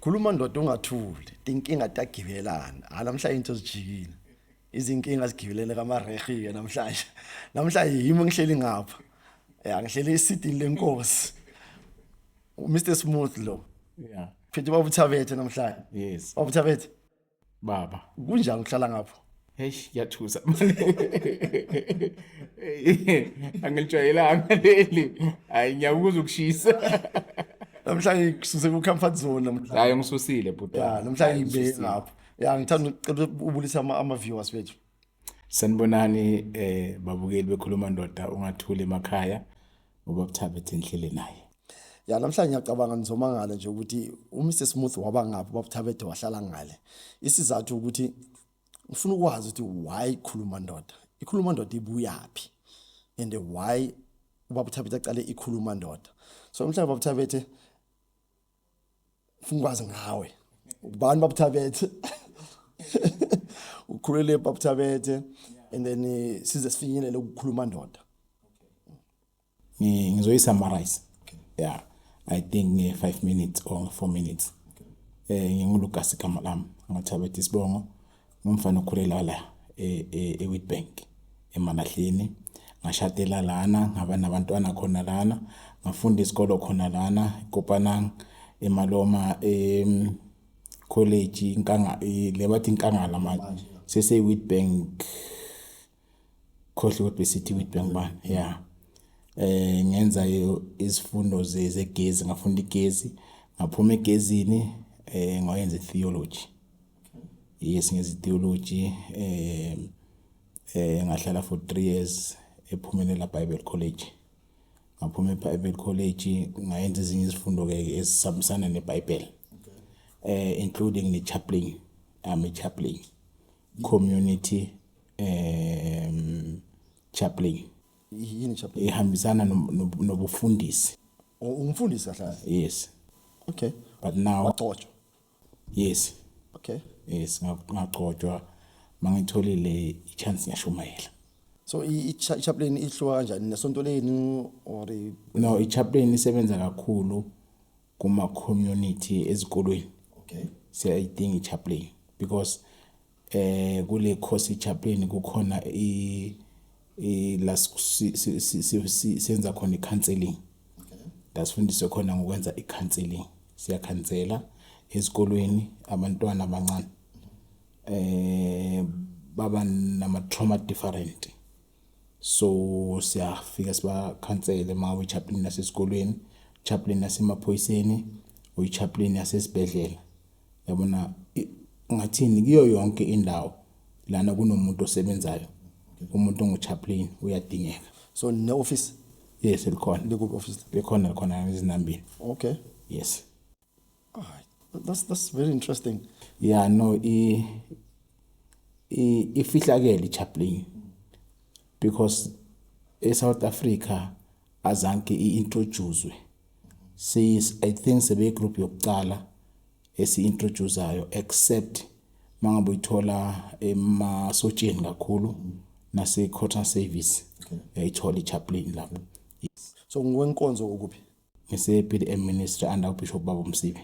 khuluma ndoda ungathuli inkinga tagibelana ha namhlanje into zijikile izinkinga zigibelene kamarehe-ke namhlanje namhlanje yimi ngihleli ngapha ya ngihleli esidini lenkosi mr smooth lo yeah phethe babuthabethe namhlanje yes babuthabethe baba kunjani ukuhlala ngapho heyi yathusa angilitshwayelanga leli hayi ngiyakuza ukushisa namhlanje ngisuse ku-comfort zone namhlanje hayi ngisusile bhuti ya namhlanje ngibeke ngapho ya ngithanda ucela ubulisa ama-viewers bethu Sanibonani eh babukeli bekhuluma ndoda ungathuli emakhaya ngoba kuthabe thenhlele naye. Ya namhlanje ngiyacabanga ngizoma ngale nje ukuthi uMr Smooth waba ngaphi babuthabethe wahlala ngale. Isizathu ukuthi ngifuna ukwazi ukuthi why khuluma ndoda. Ikhuluma ndoda ibuyaphi? And why ubabuthabethe aqale ikhuluma ndoda. So mhlawumbe babuthabethe Funa ukwazi ngawe. Ubani babuthabethe? Ukhulele babuthabethe and then eh, size sifinyelele ukukhuluma ndoda. Ngi- ngizoyisummarize yeah i think nge 5 minutes or 4 minutes eh ngingulukas igama lami ngathabethe isibongo Ngumfana okhulela la eWitbank e, eMalahleni ngashatela lana ngaba nabantwana khona lana ngafunda isikolo khona lana Kopanang eMaloma em college inkanga le bathi inkangala manje sese Witbank khohle ukuthi besithi with bengibani yeah eh ngenza izifundo zegezi ngafunda igezi ngaphuma egezini eh ngayenza theology yes ngenza theology eh eh ngahlala for 3 years ephumelela Bible College ngaphuma eBible College ngayenza ezinye izifundo ke esisabisana neBible eh including ne chaplain I'm a chaplain community um chaplain yini chaplain ihambisana nobufundisi oh, umfundisi kahle kahle yes okay but now wagcotshwa yes okay yes ngagcotshwa mangitholile ichance ngiyashumayela so ichaplain ihluka kanjani nesonto lenu or no ichaplain isebenza kakhulu kuma community ezikolweni okay siyayidinga ichaplain because eh kule course ichaplain kukhona i la senza khona i-counseling la sifundiswe khona ngokwenza i-counseling siyakhansela ezikolweni abantwana abancane eh baba nama-trauma different so siyafika sibakhansele uma uyi-chaplain nasesikolweni chaplain nasemaphoyiseni uyi-chaplain yasesibhedlela yabona ngathini kuyo yonke indawo lana kunomuntu osebenzayo umuntu onguchaplain uyadingeka so ne office yes likhona likuphi office likhona likhona izinambini okay yes Alright. that's that's very interesting yeah no i i ifihlakele ichaplain because eSouth Africa azanke i-introducwe i think sebeyigroup yokuqala esi-introducayo except uma ngabe uyithola emasotsheni kakhulu nase-quarter service yayithola ichaplain lapho so ngikwenkonzo ukuphi ngise-pdm ministry under ubishop baba umsibe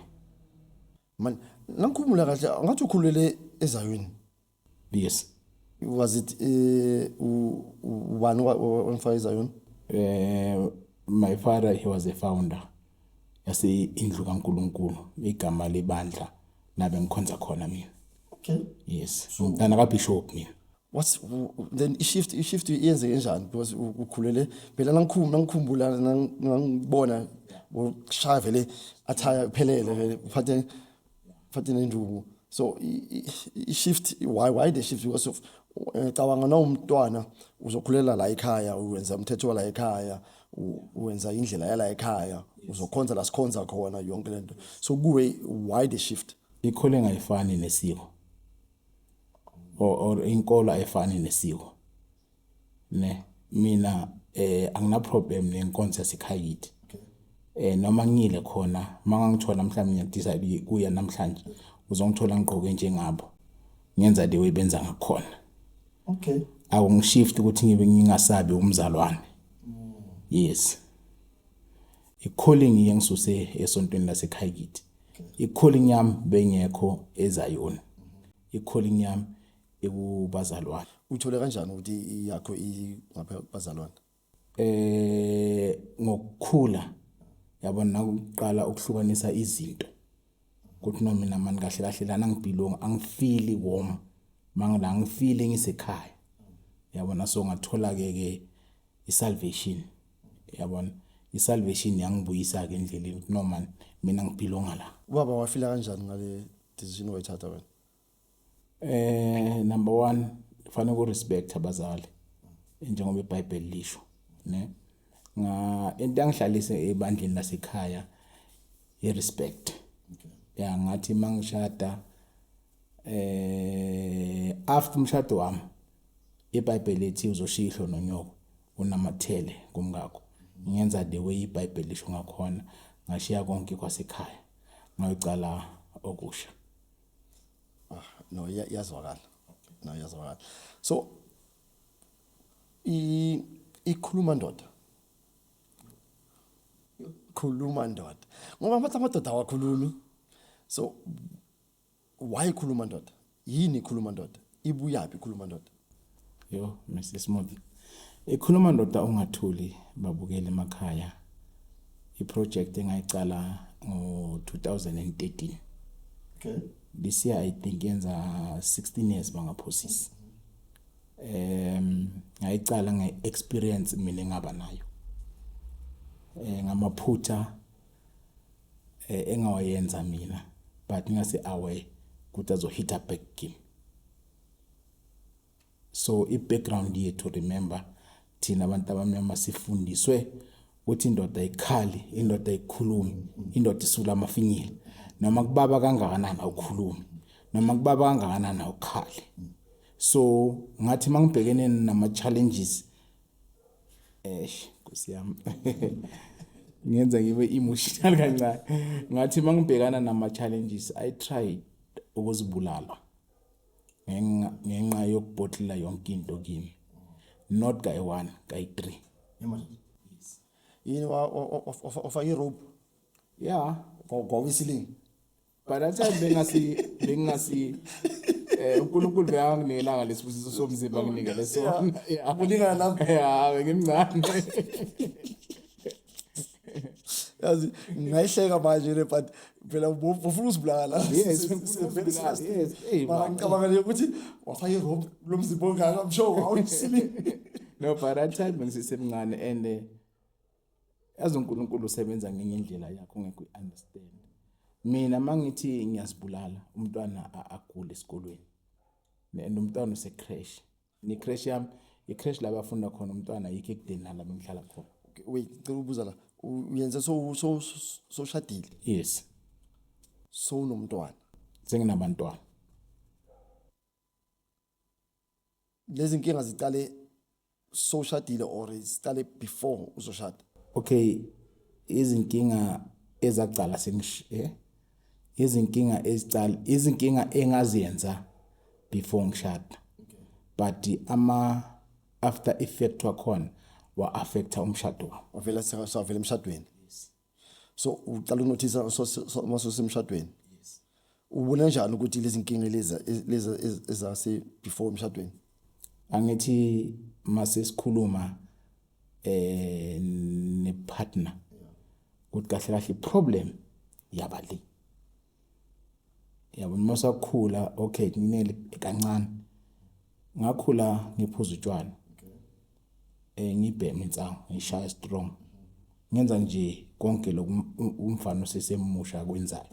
mani nangikhumula kahle ngathi ukhulele ezayweni yes was it eh, u- u- ubani owa- owa- owamfaka izayoni eh my father he was a founder yase indlu kaNkuluNkulu igama lebandla labe ngikhonza khona mina okay yes ngitana ka bishop mina what's u- u- then ishift ishift yenzeke njani because u- ukhulele phela nangikhum nangikhumbula nang- ngangibona ushaya vele athaya phelele vele uphathe Fathi nenduku. So i-shift why why the shift because of ngicabanga eh, nawumntwana uzokhulela la ekhaya uwenza umthetho wala ekhaya uwenza indlela yala ekhaya uzokhonza la sikhonza khona yonke lento so kuwe why the shift ikhole ngayifani nesiko or inkolo ayifani nesiko ne mina eh angina problem nenkonzo yasekhaya kithi eh noma ngile khona mangangithola mhlawumbe ngiyadisa kuya namhlanje uzongithola ngigqoke njengabo ngenza the way benza ngakhona okay awungishift ukuthi ngibe ngingasabi umzalwane yes i-calling yengisuse esontweni lasekhaya kithi i-calling yami bengekho ezayona i-calling yami ekubazalwane. Uthole kanjani ukuthi yakho ingapha bazalwane? Eh ngokukhula yabona nakuqala ukuhlukanisa izinto. Kuthi noma mina mani kahle kahle lana ngibhilonga angifili warm. Mangila ngifili ngisekhaya. Yabona so ngathola ke ke isalvation. Yabona isalvation yangibuyisa ke endleleni noma mina ngibhilonga la. Ubaba wafila kanjani ngale decision wayithatha wena? Eh number 1 kufanele uku respect abazali njengoba iBhayibheli lisho ne nga into angihlalise ebandleni lasekhaya i respect ya ngathi mangishada eh after umshado wami iBhayibheli ethi uzoshiya ihlo nonyoko unamathele kumngakho ngenza the way iBhayibheli lisho ngakhona ngashiya konke kwasekhaya ngayocala okusha ah, no yazwakala no yazwakala so i ikhuluma ndoda khuluma ndoda ngoba amathi amadoda awakhulumi so why khuluma ndoda yini khuluma ndoda ibuyaphi khuluma ndoda yo mr smooth ikhuluma ndoda ungathuli babukele emakhaya iproject engayicala ngo-2013 okay this year i think yenza 16 years bangaphosisi um ngayicala nge-experience mina engaba nayo um ngamaphutha eh, engawayenza mina but ngingase aware ukuthi azohita back game so i-background yethu remember thina abantu abamnyama sifundiswe ukuthi indoda ayikhali indoda ayikhulumi indoda isula amafinyila noma kubaba kangakanani awukhulumi noma kubaba kangakanani awukhali so ngathi mangibhekene nama challenges Eish, Nkosi yami. Ngenza ngibe emotional kancane. Ngathi mangibhekana nama challenges I try ukuzibulala. Ngenxa ngenxa yokubhotlela yonke into kimi. Not guy 1, guy 3. Yini wa ofa i rope? Yeah, kwakwisilingi. by that time bengasi bengasi eh uNkulunkulu beyanginikela lesibusiso somzimba nginikele sona akulingana lapho ya ngimncane yazi ngayihleka manje le but phela ufuna usibulala yes yes hey mama ngicabanga nje ukuthi wafaka irob lo mzimba ongaka msho awusili no but that time bengisemncane and eh, yazi uNkulunkulu usebenza ngenye indlela yakho ngeke uyiunderstand mina mangithi ngiyazibulala umntwana agule esikolweni and umntwana usecrash ni crash yami icrash la bafunda khona umntwana yikho ekudeni nala bengihlala khona wait cela ubuza la uyenze so so soshadile yes so unomntwana senginabantwana lezi nkinga ziqale sowushadile or ziqale before uzoshada okay izinkinga ezaqala sengishe eh? izinkinga eziqala izinkinga engaziyenza before ngishada but ama after effect wakhona wa affecta umshado wami wavela sewavela emshadweni so uqala ukunothisa uma sosemshadweni ubona njani ukuthi lezi nkinga lezi lezi ezase before umshadweni angithi mase sikhuluma eh ne partner ukuthi kahle kahle problem yabali yabo noma sakhula okay kunele kancane ngakhula ngiphuza utshwala eh ngibheme insangu ngishaya strong ngenza nje konke lokhu umfana osesemusha akwenzayo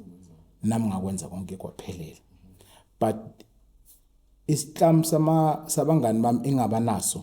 nami ngakwenza konke kwaphelela but isihlamu sama sabangani bami engabanaso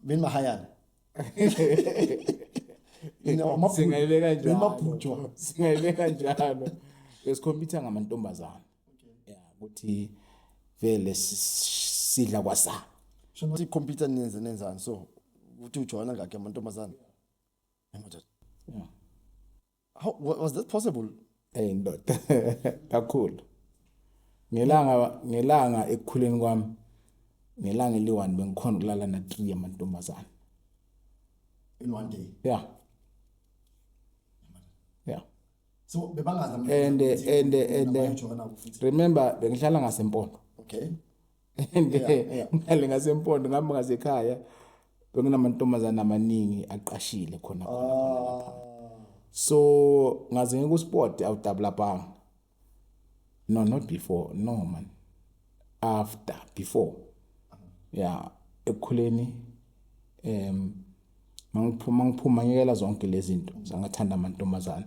benimahayana singayibeka njalo singayibeka njalo besikhompyutha ngamantombazana ya ukuthi vele sidla kwasa shona sikhompyutha nenze nenzani so ukuthi ujoyina ngakhe amantombazana amadoda How was that possible? Hey ndoda. Kakhulu. Ngelanga ngelanga ekukhuleni kwami ngelanga eliwani bengikhona ukulala na 3 amantombazana. In one day. Yeah. Yeah. So bebangazi and and and remember bengihlala ngasempondo. Okay. and eh, ngale ngasempondo ngihamba ngasekhaya bekunamantombazane amaningi aqashile khona ah. so ngaze ngikusport awudabula banga no not before no man after before yeah ekukhuleni em mangiphuma ngiphuma ngiyela zonke lezi zinto zangathanda amantombazana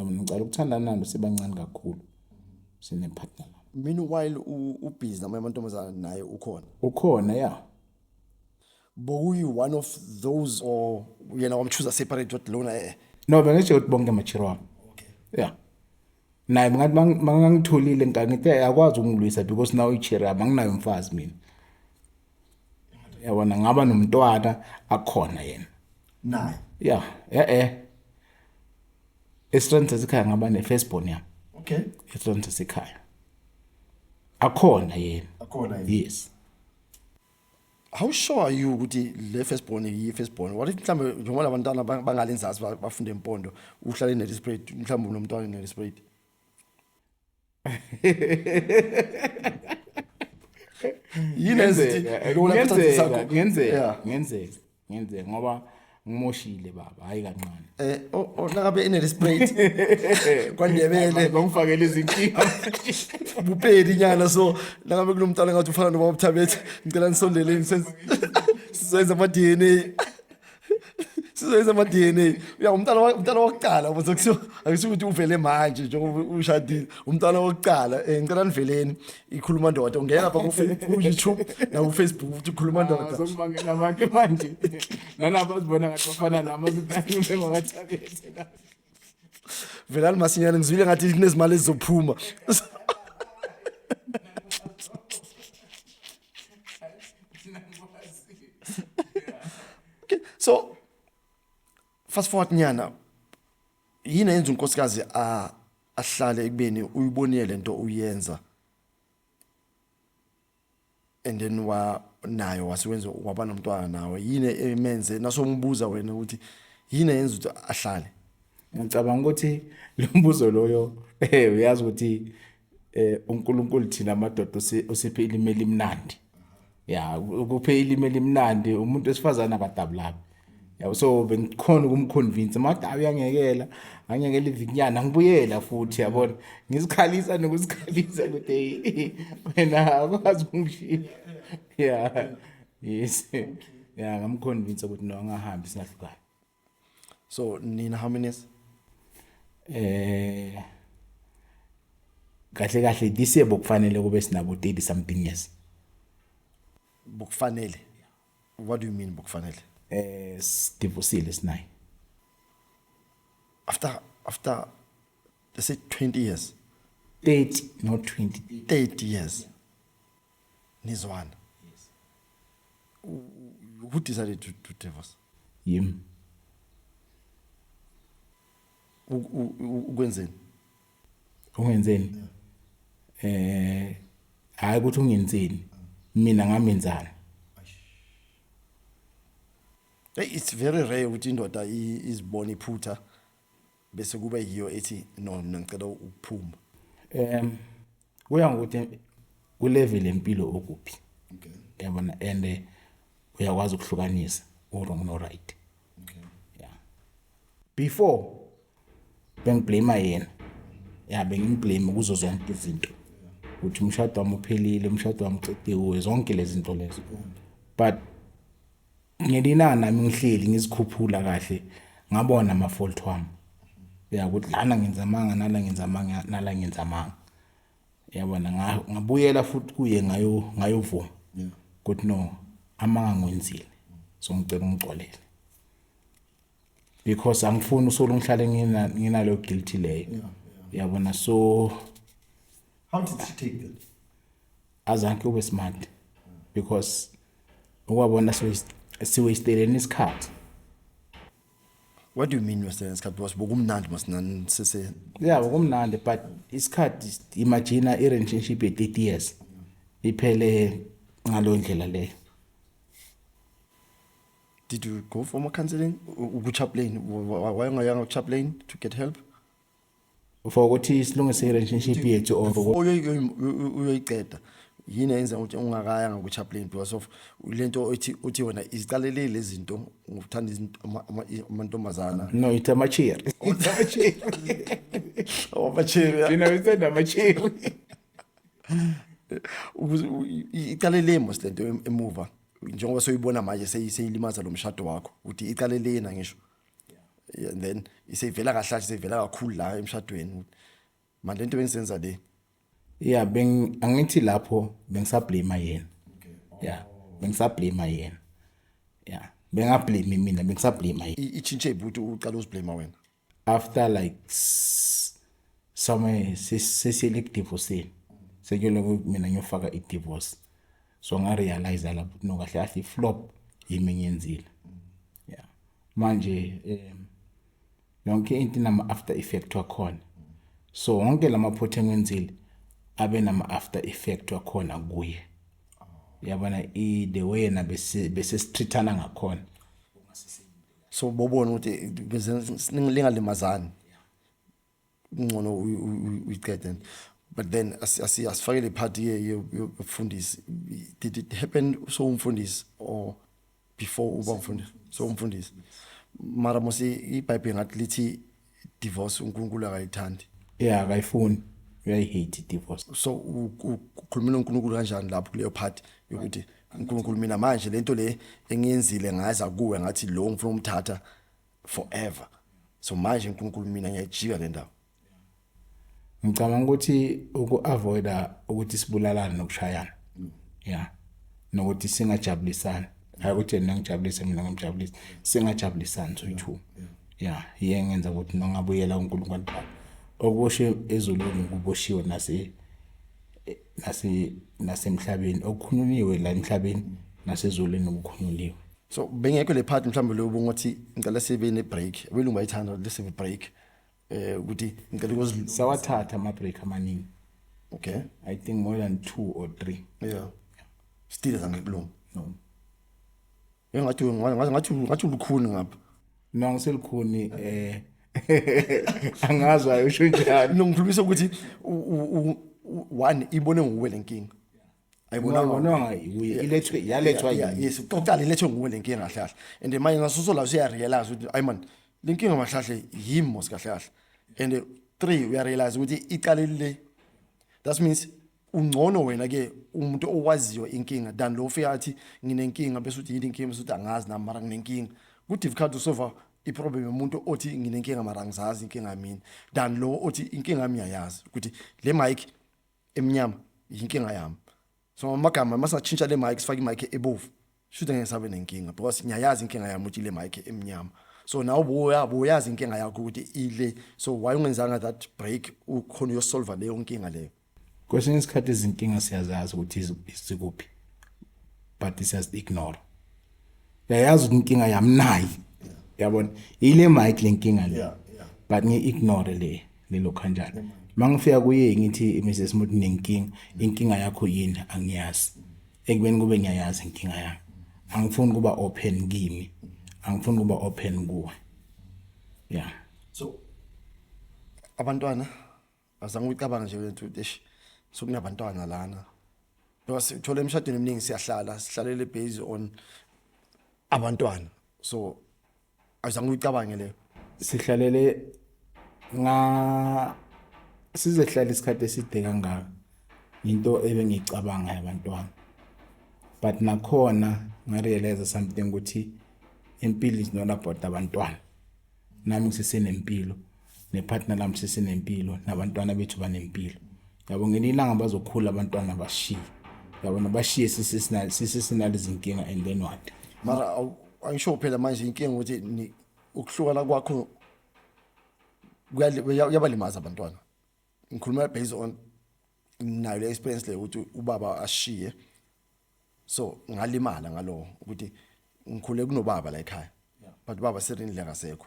Ngicela ukuthandana nalo sibancane kakhulu. Sine partner. Meanwhile ubhizi namanye amantombazana naye ukhona. Ukhona ya. Bokuyi one of those or yena wamchuza separate what lona eh. No bengisho ukuthi bonke machiro wami. Okay. Yeah. Naye ngathi mangangitholile ngangithe akwazi ukungilwisa because now ichira manginayo umfazi mina. yabona ngaba nomntwana akhona yena naye yeah eh eh estrength esikhaya ngaba ne first born yami okay estrength esikhaya akhona yena akhona yena yes how sure are you ukuthi le first born yi first born what if mhlambe njengoba labantwana bangale nzazi bafunde impondo uhlale ne display mhlambe unomntwana ne display yini ezithi lona isikhathi sakho ngenzeka ngenzeka ngenzeka ngoba ngimoshile baba hayi kancane eh onakabe inele sprite kwandebele ngomfakele izinkinga bupeli nyana so nakabe kulomntana ngathi ufana nobaba uthabethe ngicela nisondeleni senze ama DNA sizoyenza ama DNA uya umntana wa- umntana wokuqala manje kusho akusho ukuthi uvele manje njengoba ushadile umntana wokuqala eh, ngicela niveleni ikhuluma ndoda ungena lapha ku Fe- ku YouTube na ku Facebook ukuthi ukhuluma ndoda Azokubangela abantu manje. Nalapha uzibona ngathi bafana nami azibangele ngakathabethe la. velani masinyane ngizwile ngathi kunezimali ezizophuma okay so fast forward nyana yini yenza unkosikazi a ahlale ekubeni uyibonile lento uyenza and then wa nayo wasewenza waba nomntwana nawe yini emenze nasombuza wena ukuthi yini yenza ukuthi ahlale ngicabanga ukuthi lo mbuzo loyo eh uyazi ukuthi eh uNkulunkulu thina amadoda usiphe ilimi elimnandi ya ukuphe ilimi elimnandi umuntu wesifazana akadabulabi yabo so bengikhona ukumconvince mada uyangekela angekela ivinyana ngibuyela futhi yabona ngizikhalisa nokuzikhalisa ukuthi wena akwazi ukungishiya yeah yes yeah ngamconvince ukuthi no angahambi singahlukani so nina how many years eh kahle kahle this year bokufanele kube sinabo 30 something years bokufanele what do you mean bokufanele eh sidivosile sinayi after after let's say 20 years 30 not 20 30 years nizwana yes who decided to, to divorce yim ukwenzeni ungenzeni eh hayi ukuthi ungenzeni mina ngamenzani it's very rare ukuthi indoda izibona iphutha bese kuba yiyo ethi no mina ngicela ukuphuma um kuya ngokuthi ulevel empilo okuphi okay yabona and eh, uyakwazi ukuhlukanisa uwrong no-right okay yeah before bengiblame yena ya bengimblame kuzo zonke izinto ukuthi umshado wami uphelile umshado wami uqiqiwe zonke lezi zinto lezo but ngelina nami ngihleli ngizikhuphula kahle ngabona ama fault wami ya ukuthi lana ngenza amanga nala ngenza amanga nala ngenza amanga yabona ngabuyela futhi kuye ngayo ngayovuma ukuthi no amanga ngwenzile so ngicela ungixolele because angifuni usolo ngihlale ngina nginalo guilty leyo yabona so how did she take that azanke ube smart because ukwabona so siwasteleni isikhathi What do you mean wasteleni isikhathi because bokumnandi masinani sise Yeah bokumnandi but isikhathi imagine i relationship ye 30 years iphele ngalondlela leyo Did you go for more counseling? Ukuchaplain? Why ungayanga ukuchaplain to get help? For ukuthi silungise relationship yethu or uyoyiqeda. Yini yenza ukuthi ungakaya ngokuchaplain because of lento othi uthi wena iziqalelele lezinto ngokuthanda izinto amantombazana. No, it's a mature. It's a mature. Oh, mature. You know, it's a mature. Iqalelemo silento emuva. njengoba soyibona manje seyilimaza lo mshado wakho ukuthi iqale lena ngisho and then iseyivela kahle iseyivela kakhulu la emshadweni manje lento bengisenza le yeah beng angithi lapho bengisablame yena yeah bengisablame yena yeah bengablame mina bengisablame yena ichinche ibhuti uqala uziblame wena after like somewhere sesiyele kudivoseni sekuyoloko mina ngiyofaka idivorce so ngarealize lapho no kahle kahle iflop yimi ngiyenzile yeah manje um yonke into inama after effect wakhona so wonke lamaphutha engiwenzile abe nama after effect wakhona kuye yabona i the way yena bese bese sithithana ngakhona so bobona ukuthi lingalimazani ngcono uyiqede but then asifakele iphathi yokufundisi did it happen sowumfundisi or before uba mfundisi sowumfundisi mara mose ibhayibhile ngathi lithi divorce uNkulunkulu akayithandi yeah akayifuni uyayihate divorce so ukhulumela uNkulunkulu kanjani lapho kuleyo part yokuthi uNkulunkulu mina manje lento le engiyenzile ngaza kuwe ngathi lo ngifuna umthatha forever so manje uNkulunkulu mina ngiyajika le ndawo ngicabanga ukuthi uku-avoida ukuthi sibulalane nokushayana mm. ya nokuthi singajabulisani hayi ukuthi yena ngijabulise mina ngimjabulise singajabulisani soyi-two ya iye ngenza ukuthi nongabuyela uNkulunkulu bakho okushe ezulwini kuboshiwe nase nase nasemhlabeni okukhununiwe la emhlabeni nasezulwini okukhununiwe so bengekho le part mhlawumbe lo ubungothi ngicela sibe ne break abelungu bayithanda ukuthi sibe break eh ukuthi ngicela ukuzilunga sawathatha ama break amaningi okay i think more than 2 or 3 yeah still zangikulunga no engathi ngathi ngathi ngathi ulukhuni ngapha no ngiselikhuni eh angazi wayo usho njani no ngikhulumisa ukuthi one ibone nguwe lenkinga ayibonanga yiye ilethwe yalethwa yini yes uqala ilethwe nguwe lenkinga kahle kahle and manje ngasuso la uya realize ukuthi ay man lenkinga mahlahle yimi mos kahle kahle and three uya realize ukuthi iqalile le that means ungcono wena ke umuntu owaziyo inkinga than lo ufika athi nginenkinga bese uthi yini inkinga bese uthi angazi nami mara nginenkinga ku difficult to solve i problem yomuntu othi nginenkinga mara ngizazi inkinga yami than lo othi inkinga yami yayazi ukuthi le mic emnyama yinkinga yami so amagama masatshintsha le mic sifake i mic ebovu Shuthi ngeke sabe nenkinga because ngiyayazi inkinga yami ukuthi ile mic emnyama. So nawe buya buyazi inkinga yakho ukuthi ile so why ungenzanga that break ukhona uyosolve leyo nkinga leyo. Kwesinye isikhathi izinkinga siyazazi ukuthi zikuphi but siyazi ignore. Yayazi ukuthi inkinga yami nayi. Yabona ile mic lenkinga le. But ngi ignore le lelo kanjani. Mangifika kuye ngithi Mrs Muthi nenkinga inkinga yakho yini angiyazi. ekubeni kube ngiyayazi inkinga yami angifuni kuba open kimi angifuni kuba open kuwe yeah so abantwana azange uyicabanga nje wethu eish sokunabantwana lana ngoba sithola emshadweni eminingi siyahlala sihlalela based on abantwana so awuzange uyicabange leyo sihlalele nga sizehlala isikhathi eside kangaka into ebengiyicabanga yabantwana but nakhona ngarealize something ukuthi impilo is not about abantwana nami ngisesenempilo nepartner lami sesinempilo nabantwana bethu banempilo yabo ngelinye ilanga bazokhula abantwana bashiye yabo nabashiye sisesinale izinkinga and then what mara angisho phela manje inkinga ukuthi ukuhlukana kwakho kuyabalimaza abantwana ngikhuluma based on nayo le experience le ukuthi ubaba ashiye so ngalimala ngalowo ukuthi ngikhule kunobaba la ekhaya but ubaba serini le ngasekho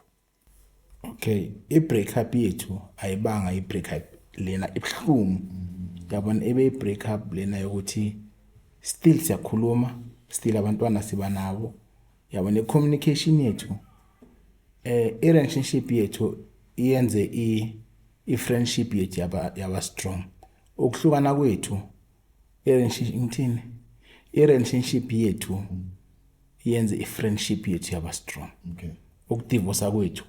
okay i-break up yethu ayibanga i-break up lena ibuhlungu yabona ebe i-break up lena yokuthi still siyakhuluma still abantwana siba nabo yabona i-communication yethu eh i-relationship yethu iyenze i i-friendship yethu yaba yaba strong ukuhlukana kwethu i-relationship ngithini i-relationship yethu yenze i-friendship yethu yaba strong okay. ukudivosa kwethu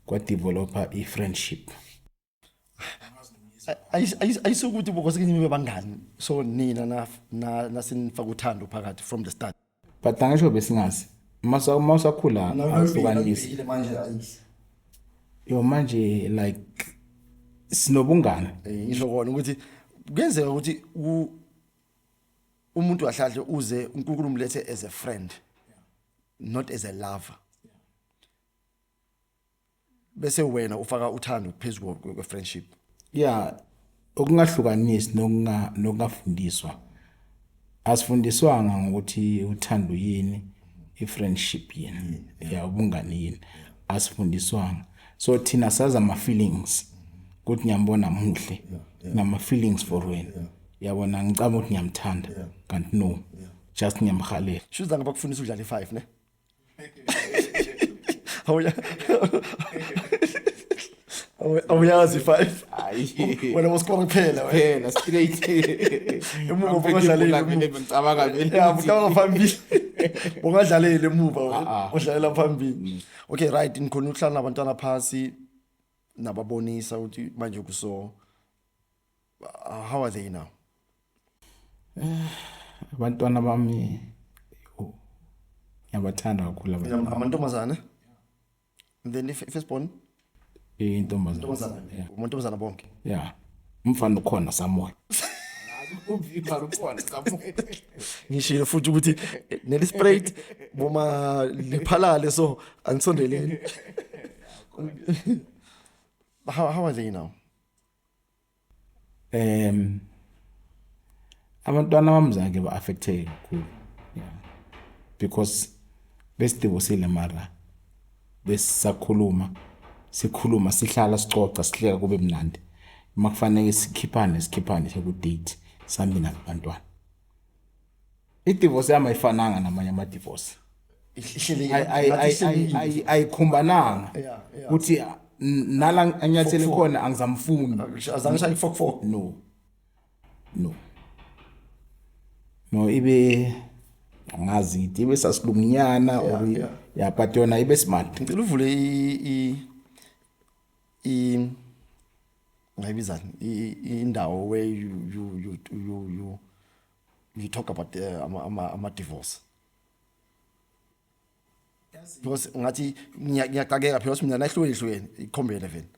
kwadevelopa i-friendship ayisukuthi bokosekenye nibe bangani so nina nasinifaka uthando phakathi from the start but angisho besingazi uma usakhula ahlukanisi yo manje like sinobungane eh, ngisho kona ukuthi kuyenzeka ukuthi umuntu ahlahle uze uNkulunkulu umlethe as a friend not as a lover bese wena ufaka uthando phezulu kwe friendship yeah okungahlukanisi nokunga nokungafundiswa asifundiswanga ngokuthi uthando yini i-friendship yini mm, ya ubungani yini asifundiswanga so thina sazi ama-feelings ukuthi ngiyambona muhle ngama-feelings for wena yabona ngicabanga ukuthi ngiyamthanda Yeah. kanti no just ngiyamhalela shuza ngaba kufundisa udlale 5 ne awuya Awu- awuyazi 5 hayi wena woskora kuphela wena phela straight Emuva ungadlaleli, emuva. ngicabanga vele ya ukuthi- bukawa phambili ungadlaleli emuva Ah, wena ah. udlalela phambili okay right ngikhona ukuhlala nabantwana phasi nababonisa ukuthi manje kuso Uh, how are they now? Eh, abantwana bami ngiyabathanda kakhulu amantombazane and then ifirstborn intombazane amantombazane bonke ya umfana ukhona samoya ngishilo futhi ukuthi nelisprait boma liphalale so anisondeleni how, how are they now um abantwana bami zange ba-affecteke kakhulu yeah. because besidivosile mara besisakhuluma sikhuluma sihlala sicoca sihleka kube mnandi uma kufanele sikhiphane sikhiphane sekudate sihambe nabantwana idivorce yami ayifananga namanye amadivorce ayikhumbananga ukuthi nala anyathele khona angizamfuni no no no ibe angazi ngithi ibe sasilungunyana or ya but yona ibe smart ngicela uvule i i ngayibizani indawo where you you you you you talk about the eh, ama ama, ama divorce because ngathi ngiyaqakeka because mina nahlweni hlweni ikhombele vele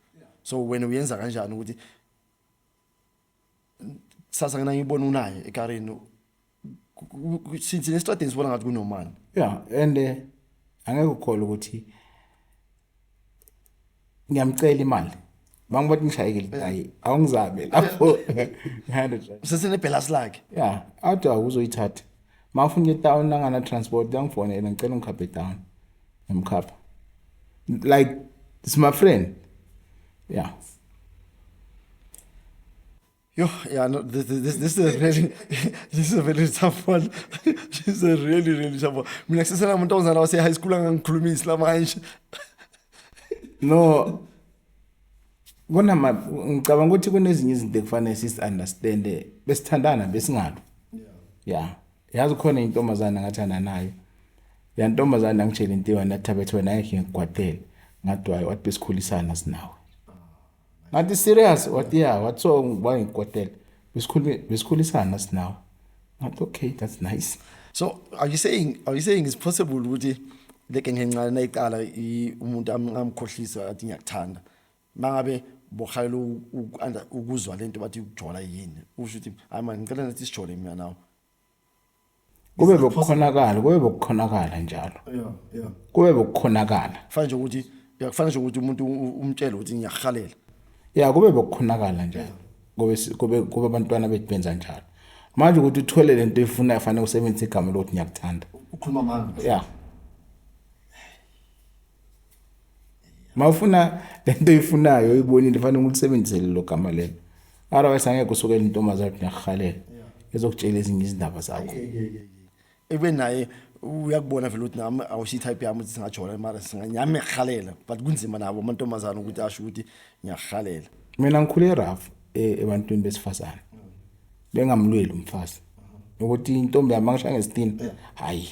so wena uyenza kanjani ukuthi sasa ngina ngibona unaye ekarini since nesitradini sibona ngathi kunomani yeah and eh, angeke ukholwe ukuthi ngiyamcela imali bangu bathi ngishayekile eh. hayi awungizame lapho sesenebhelasi lakhe ya athi awuzoyithatha mafuna etown angana transport yangifonela ngicela ungikhaphe etown ngimkhapha like it's my friend yeah Yo, yeah, no, this, this, this is really, this is a very tough one. this is a really, really tough one. Mina kusesela umuntu ozana wase high school angangikhuluma isla manje. No. Kona ma ngicabanga ukuthi kunezinye izinto ekufanele sis understand besithandana besingabi. Yeah. Yazi khona intombazana ngathanda nayo. Ya ntombazana angitshela into yona thatha bethu wena ngeke ngigwadele. Ngadwayo wathi besikhulisana sinawe. ngathi serious wathi ya wathi so ngiba ngikotela besikhuluma besikhulisana sinawo ngathi okay that's nice so are you saying are you saying it's possible ukuthi leke ngencane nayiqala umuntu amkhohlisa athi ngiyakuthanda mangabe bohalela ukuzwa lento bathi ukujola yini usho ukuthi hayi manje ngicela nathi sijole mina nawe kube bokukhonakala kube bokukhonakala njalo kube bokukhonakala kufanele nje ukuthi kufanele nje ukuthi umuntu umtshele ukuthi ngiyahalela ya kube bokukhonakala njalo kube kube kube abantwana bethu benza njalo manje ukuthi uthole lento efuna yafanele usebenzise igama lokuthi ngiyakuthanda ukhuluma manje ya mawufuna lento oyifunayo oyibonile fanele ulisebenzisele lo gama lelo otherwise angeke usuke intombazane ukuthi ngiyakuhalela ezokutshela ezinye izindaba zakho ebe naye uyakubona vele ukuthi nami awusiyi-type yami ukuthi singajola mara singanyami ngiyakuhalela but kunzima nabo amantombazane ukuthi asho ukuthi ngiyakuhalela mina ngikhule erafu e, ebantwini besifazane bengamlweli umfazi ukuthi intombi yami angishange sitini hayi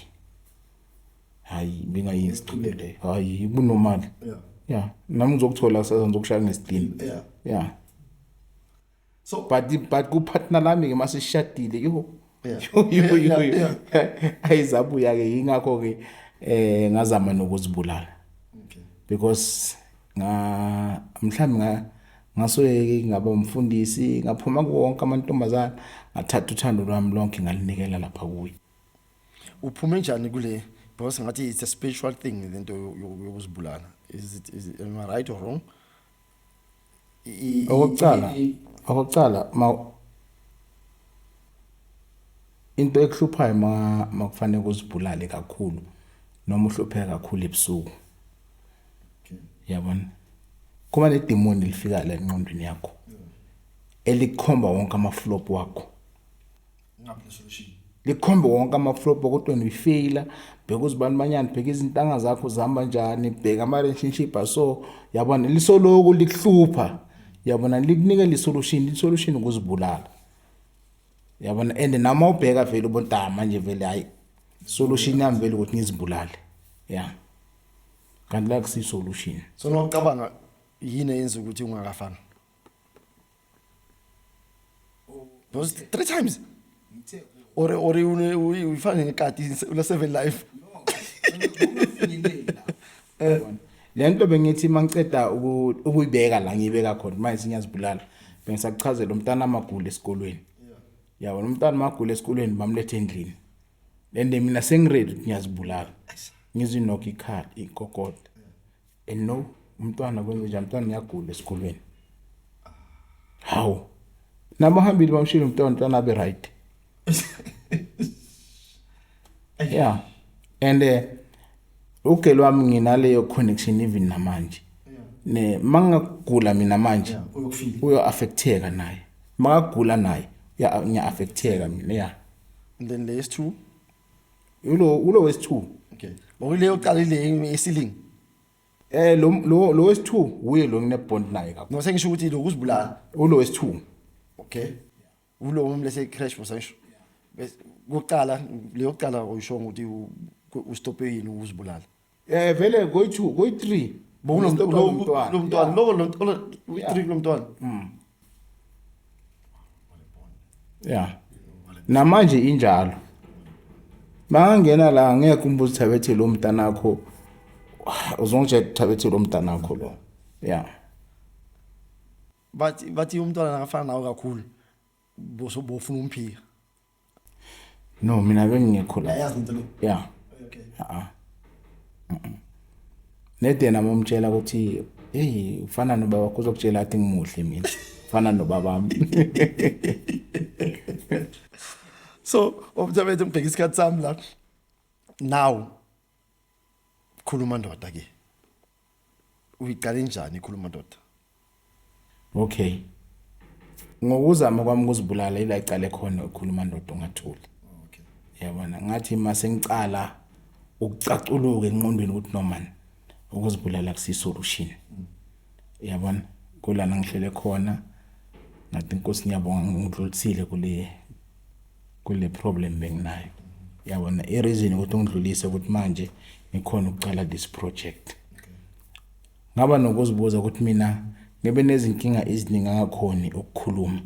hayi ngingayi ngisigcibele hayi bunomali yeah yeah nami ngizokuthola kusasa ngizokushaya ngesidini yeah yeah so but but ku partner lami ke masishadile yho ayizabuya ke ingakho ke eh ngazama nokuzibulala because nga mhlawumbe nga ngasoyeke ngaba umfundisi ngaphuma kuwonke amantombazana ngathatha uthando lwami lonke ngalinikela lapha kuye uphume njani kule because ngathi it's a spiritual thing lento yokuzibulala is it is it, am I right or wrong okokuqala okokuqala ma into ekuhluphayo ma makufanele kuzibulale kakhulu noma uhlupheka kakhulu ebusuku yabona kuba nedemoni lifika la enqondweni yakho elikhomba wonke amaflop wakho likhombe wonke amaflopo kodwa nifeyila bheka uzibani manyana bheka izintanga zakho zihamba njani bheka ama-relationship aso yabona lisoloku likuhlupha yabona likunike lisolution lisolution ukuzibulala yabona and nama ubheka vele ubonta manje vele hayi solution yami vele ukuthi ngizibulale ya yeah. kanti la kusisolution so nocabanga yini eyenza ukuthi ungakafani Those three times. Or or uyifana nekati ula seven life. Eh. Le nto bengithi mangiceda ukuyibeka la ngiyibeka khona manje sinyazibulala. Bengisakuchazela umntana amagula esikolweni. Yabona umntana amagula esikolweni bamlethe endlini. Lende mina sengiready ukuthi ngiyazibulala. Ngizinokho ikhala inkokoda. and no umntwana kwenze njani umntwana uyagula esikolweni hawu nabahambile bamshilo umntwana umntwana abe right yeah and eh, ugelo wami nginaleyo connection even namanje ne mangagula mina manje uyo affecteka naye mangagula naye uya affecteka mina yeah then lesi two ulo ulo wesi2 okay okule yoqala ile esiling eh lo lo lo wesi2 uye lo ngine bond naye kakhulu no sengisho ukuthi lo kuzibulala ulo wesi2 okay ulo umlese crash mosasho bese kuqala leyoqala uyishonga ukuthi ustope yini uzibulala Eh vele koyi-2, koyi-3. Bokunomntwana. Lomntwana, lowo lomntwana, koyi-3 kulomntwana. Mm. Yeah. Namanje injalo. Bangangena la ngeke umbuzo thabethe lo mntanakho. Uzongitshela thabethe lo mntanakho lo. Yeah. Bathi bathi umntwana akafana nawe kakhulu. Boso bofuna umphika. No, mina bengingekho la. Ayazi into lo. Yeah. Okay. Ah. Nede nami umtshela ukuthi hey ufana nobaba wakho uzokutshela athi ngimuhle mina. Ufana nobaba wami. So, umthabethe ngibheka isikhathi sami la. Now khuluma ndoda ke uyiqale njani khuluma ndoda okay ngokuzama kwami ukuzibulala ila icala ekhona ukhuluma ndoda ungathuli okay yabona ngathi mase ngicala ukucaculuka enqondweni ukuthi normal ukuzibulala kusi solution yabona kulana ngihlele khona ngathi inkosi ngiyabonga ngidlulisile kule kule problem benginayo yabona i-reason ukuthi ungidlulise ukuthi manje ngikhona ukucala this project ngaba nokuzibuza ukuthi mina ngebe nezinkinga eziningi angakhoni ukukhuluma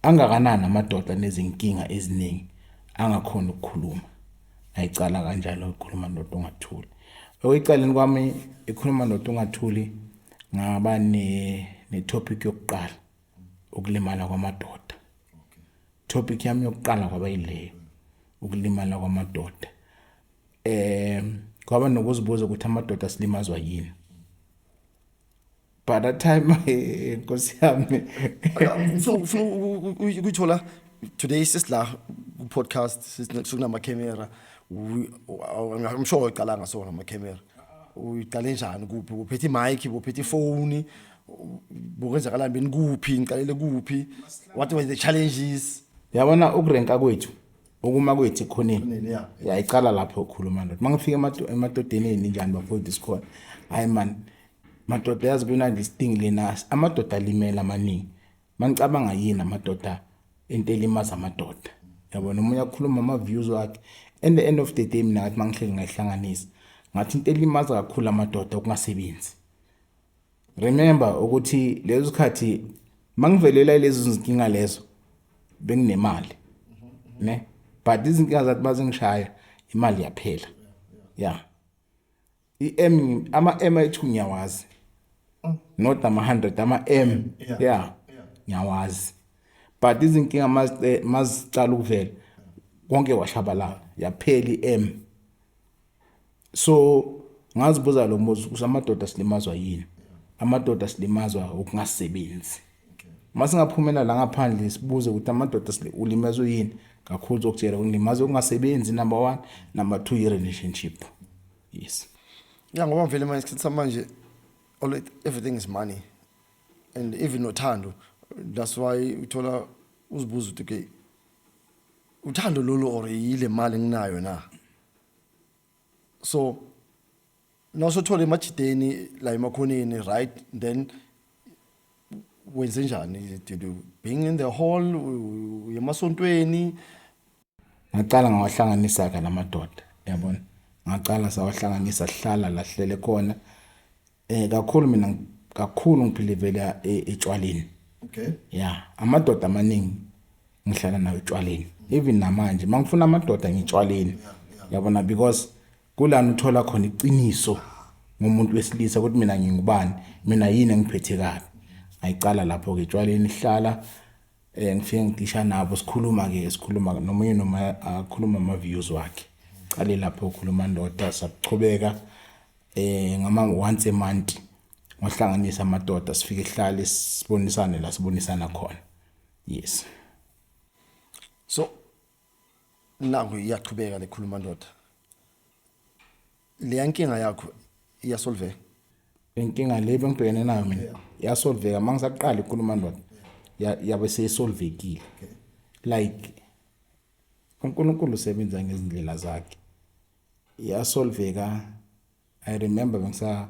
angakanani amadoda nezinkinga eziningi angakhoni ukukhuluma ayicala kanjalo ukukhuluma nomuntu ongathuli okwecaleni kwami ikhuluma nomuntu ongathuli ngaba ne-topic yokuqala ukulimala kwamadoda topic yami yokuqala kwaba yileyo ukulimala kwamadoda eh kwaba nokuzibuza ukuthi amadoda silimazwa yini by that time nkosi yami ukuyithola today sisila ku-podcast sesikunama-camera i'm sure uyicalanga sona ama-camera uyiqale njani kuphi uphethe imike uphethe ifoni bokwenzakalani benikuphi ngiqalele kuphi what were the challenges yabona ukurenka kwethu ukuma kwethu ekhoneni yayicala lapho ukhuluma ndoda uma ngifika emadodeni eninjani bafowethu sikhona hhayi mani madoda yazi kunandi isidingi lena amadoda alimele amaningi manicabanga yini amadoda into elimaza amadoda yabona omunye akhuluma ama-views wakhe and the end of the day mina ngathi mangihleli ngayihlanganisa ngathi into elimaza kakhulu amadoda ukungasebenzi Remember ukuthi lezo sikhathi mangivelela lezo zinkinga lezo benginemali. Ne? But izinkinga zathi bazingishaya imali yaphela. Yeah. I-M ama-M ayithu ngiyawazi. Not ama 100 ama M. Yeah. Ngiyawazi. But izinkinga mazicala ukuvela konke washabalala yaphela i-M. so ngazibuza lo mbuzo ukuthi amadoda silimazwa yini amadoda silimazwa ukungasebenzi uma singaphumela la ngaphandle sibuze ukuthi amadoda ulimazwe yini kakhulu zokutshela ulimazwe ukungasebenzi number one number two i-relationship yes ya ngoba mvele manje isikhathi samanje everything is money and even nothando that's why uthola uzibuza ukuthi okay uthando lolu or yile mali enginayo na so nasothola emajideni la emakhoneni right then wenze njani did you being in the hall yemasontweni ngaqala ngawahlanganisa ke namadoda yabona ngaqala sawahlanganisa sihlala lahlele khona eh kakhulu mina kakhulu ngiphilivela e, etshwaleni okay yeah amadoda amaningi ngihlala nawo etshwaleni even namanje mangifuna amadoda ngitshwaleni yabona because kulana uthola khona iqiniso ngomuntu wesilisa ukuthi mina ngingubani mina yini engiphethe kabi ayicala lapho ke etshwaleni ihlala eh ngifike ngigisha nabo sikhuluma ke sikhuluma nomunye noma akhuluma ama views wakhe cale lapho ukhuluma ndoda saqhubeka eh ngama once a month ngohlanganisa amadoda sifike sihlale sibonisane la sibonisana khona yes so nangu iyaqhubeka lekhuluma ndoda le yankinga yakho iyasolveka inkinga le bengibhekene nayo mina yasolveka uma ngisaqala ikhuluma ndoda yabe seyisolvekile like uNkulunkulu usebenza ngezindlela zakhe yasolveka i remember bengisa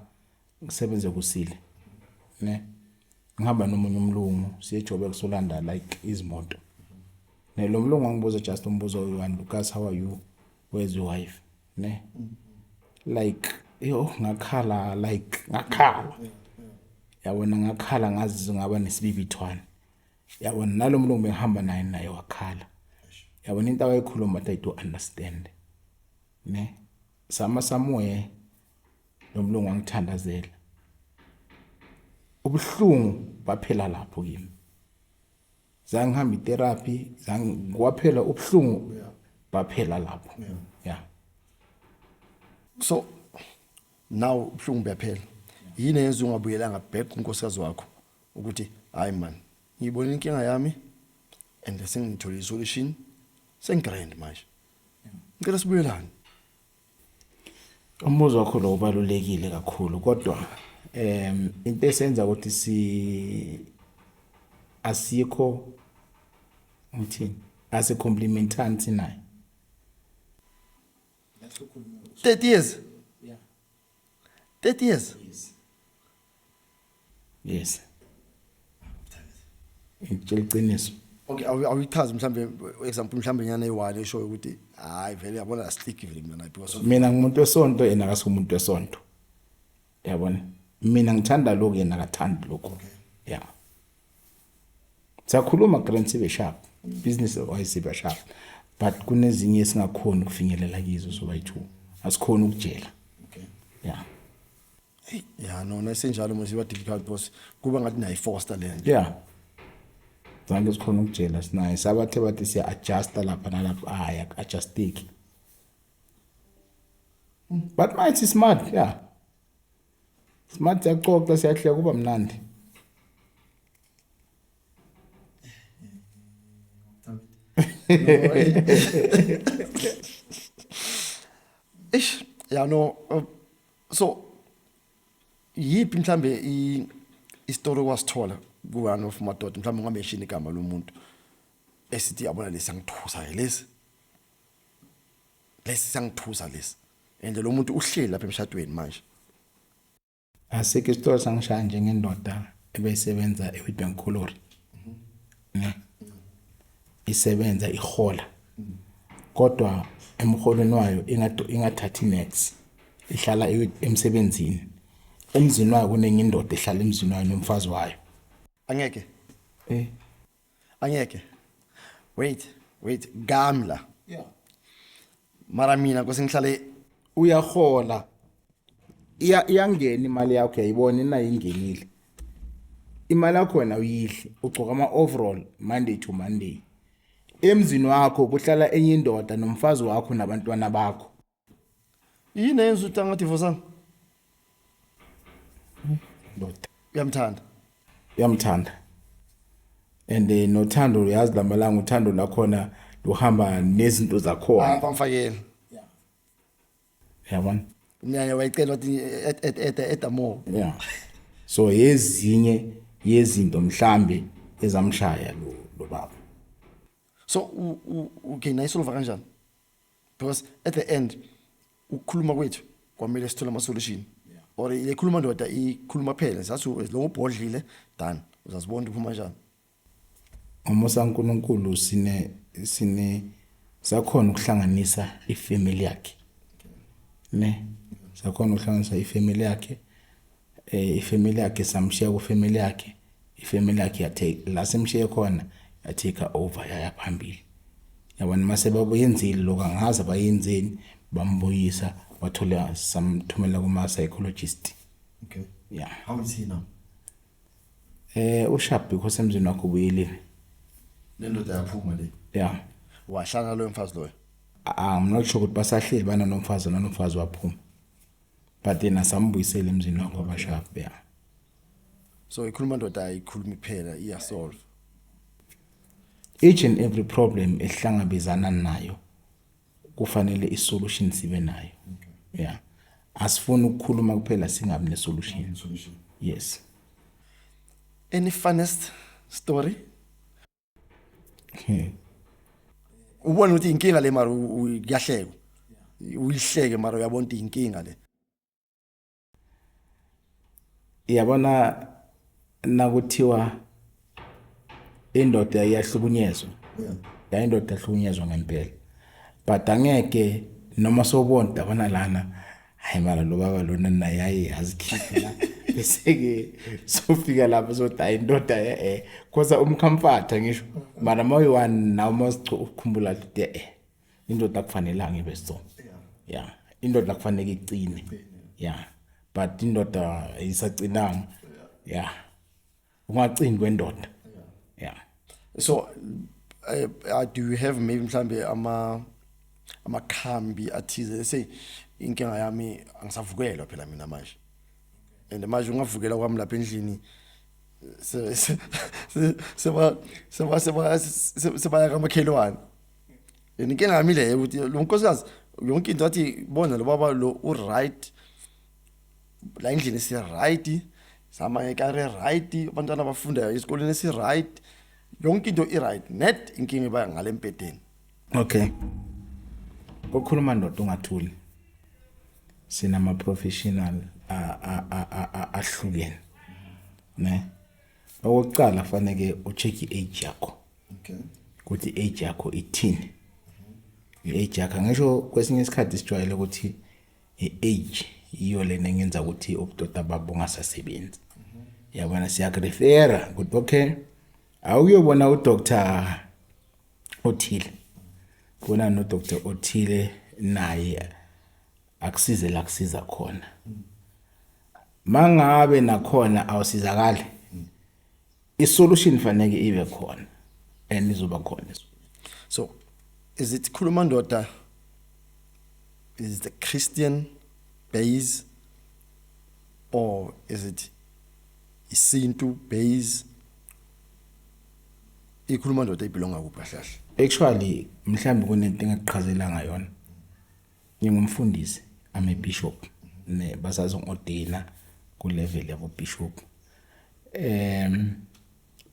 ngisebenze kusile ne ngihamba nomunye umlungu siyejobe kusolanda like izimoto ne lo mlungu angibuza just umbuzo oyi-one lucas how are you where's your wife ne like yo ngakhala like ngakhala yabona ngakhala ngazi ngaba nesibibithwane yabona nalo mlungu bengihamba naye naye wakhala yabona into awayikhuluma that i do understand ne sama samuye lo mlungu wangithandazela ubuhlungu baphela lapho kimi zangihamba itherapy zangikwaphela ubuhlungu baphela lapho yeah so now ubuhlungu buyaphela yini yenza ungabuyelanga back kunkosikazi wakho ukuthi hayi man ngiyibona inkinga yami and sengithole isolution sengigrand manje ngicela sibuyelane umbuzo wakho lo ubalulekile kakhulu kodwa em into esenza ukuthi si asikho ngithini ase complimentani sinayo 30 years 30 years yes yes ngitshela iqiniso okay awuyichazi mhlambe example mhlambe nyana eyiwani eshoyo ukuthi hayi vele yabona asitiki vele mina because mina ngumuntu wesonto yena akasumuntu wesonto yabona mina ngithanda lokho yena akathandi lokho okay. yeah siyakhuluma grand sibe sharp business wise sibe sharp but kunezinye esingakhona ukufinyelela kizo so bayi two asikhona ukujela okay yeah ya nona senjalo manje ba difficult boss kuba ngathi nayi foster le nto yeah zange sikhona ukujela sinaye sabathe bathi siya adjust lapha nalapha aya ah, adjustiki but manje smart yeah Smart siyaxoxa siyahleka kuba mnandi. Eish, ya no uh, so yipi mhlambe i i story wasithola ku one of madoda mhlambe ungameshini igama lomuntu esithi yabona lesi angithusa ke lesi lesi sangithusa lesi and lo muntu uhleli lapha emshadweni manje asike isitolo sangishaya njengendoda ebeyisebenza eWitbank Colliery ne isebenza ihola kodwa emholweni wayo ingathathi next ihlala emsebenzini emzini wayo kunenye indoda ehlala emzini wayo nomfazi wayo angeke eh angeke wait wait gamla yeah mara mina kose ngihlale uyahola iya iyangena imali yakho uyayibona inayo ingenile imali yakho wena uyidle ugcoka ama overall monday to monday emzini wakho kuhlala enye indoda nomfazi wakho nabantwana bakho yini eyenza ukuthi angadivosanga ndoda uyamthanda uyamthanda and eh, nothando uyazi lamalanga uthando lakhona luhamba nezinto zakhona hayi bamfakele yabona umnyanya wayicela wathi et- et- et- eda more yeah so yezinye yezinto mhlambe ezamshaya lo lo baba so u- u- okay naye solova kanjani because at the end ukukhuluma kwethu kwamele sithole ama solution yeah. or ikhuluma ndoda ikhuluma phela sathi as long ubhodlile done uzazibona uphuma kanjani ngomusa uNkulunkulu sine sine sakhona ukuhlanganisa ifamily yakhe ne sakhona ukuhlanganisa ifamily yakhe eh ifamily yakhe samshiya ku family yakhe ifamily yakhe yathe la simshiye khona yatake over yaya phambili yabona mase babuyenzile lokho angazi bayenzeni bambuyisa wathola samthumela kuma psychologist okay yeah how is he now eh ushap because emzini wakhe ubuyile lendoda yaphuma le yeah wahlala lo mfazi loyo ah, i'm not sure ukuthi basahleli bana nomfazi nonomfazi waphuma but yena sambuyisela emzini wakho abashafu ya so ikhuluma ndoda ayikhulumi kuphela iyasolve each and every problem esihlangabezana nayo kufanele isolution sibe nayo okay. yeah asifuni ukukhuluma kuphela singabi nesolution yes any funnest story ubona ukuthi inkinga le mara kuyahleka uyihleke mara uyabona ukuthi inkinga le yabona nakuthiwa indoda iyahlukunyezwa ya indoda ihlukunyezwa ngempela but angeke noma sobona dabana lana hayi mara lo baba lona naye aye azikhiphe la bese-ke sofika lapho sothi hayi indoda e-e khosa umkhamfatha ngisho mara uma uyi-one naw uma ukhumbula ukuthi e-e indoda akufanelanga ibe so ya indoda kufanele iqine ya but indoda isacinanga ya ungacini kwendoda yeah so uh, uh, do you have maybe mhlambe ama amakhambi athize say inkinga yami angisavukelwa phela mina manje and manje ungavukela kwami lapha endlini se se se ba se ba se ba se ba ka makhelwane inkinga yami leyo ukuthi lo nkosikazi yonke into athi bona lo baba lo u right la endlini isi-right zama ekari e-right abantwana abafundayo esikoleni esi-right yonke into i-right net inkinga iba ngale mpedeni okay kokhuluma ndoda ungathuli sinama-professional ahlukene ne okokuqala faneke ucheck i-age yakho okay ukuthi i-age yakho ithini i-age yakho ngisho kwesinye isikhathi sijwayele ukuthi i-age yiyo lena engenza ukuthi ubudoda babo bungasasebenzi yabona siyakurefera ukuthi okay awuyobona udoctor othile bona nodoctor othile naye akusize la kusiza khona mangabe nakhona awusizakali isolution faneke ibe khona and izoba khona so is it khuluma ndoda is the christian base or is it isintu base ikhuluma ndoda ibelonga kuphi kahle actually mhlawumbe kunento engaqhazela ngayona Ngingumfundisi, I'm a bishop. Ne basazo ngodina ku level yabo bishop. Em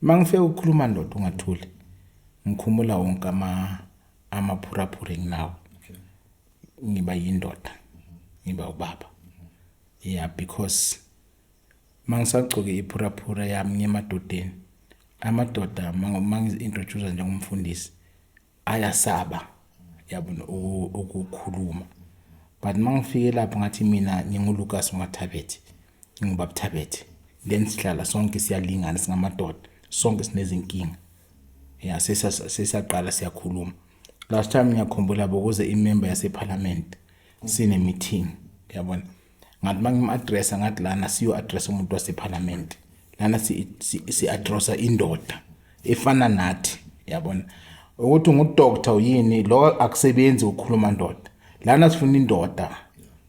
mangifike ukukhuluma ndoda ungathuli. Ngikhumula wonke ama amaphuraphura enginawo. Ngiba yindoda. Ngiba ubaba. Yeah because mangisagcoke iphuraphura yami ngemadodeni amadoda mangi introduce njengomfundisi ayasaba yabona ukukhuluma but mangifike lapho ngathi mina nginguLucas uMathabethe ngingubaba Thabethe then sihlala sonke siyalingana singamadoda sonke sinezinkinga ya sesaqala siyakhuluma last time ngiyakhumbula bokuze imember yaseParliament sine meeting yabona ngathi uma ngim-adressa ngathi lana siyo-adressa umuntu wasephalamende lana si-adressa indoda efana nathi yabona ukuthi ngudoktor yini lo akusebenzi ukukhuluma ndoda lana sifuna indoda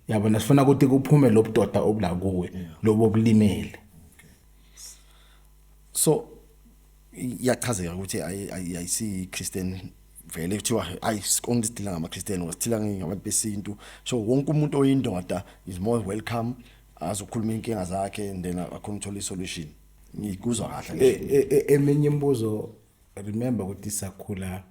yabona sifuna ukuthi kuphume lo budoda obula kuwe lobo bulimele so iyachazeka ukuthi ayisi Christian vele kuthiwa ayi sikonke sidila ngama Christian wasithila ngabantu besintu so wonke umuntu oyindoda is more welcome azokhuluma inkinga zakhe and then akhona uthola isolution ngikuzwa kahle e, e, e, eminye imibuzo remember ukuthi sakhula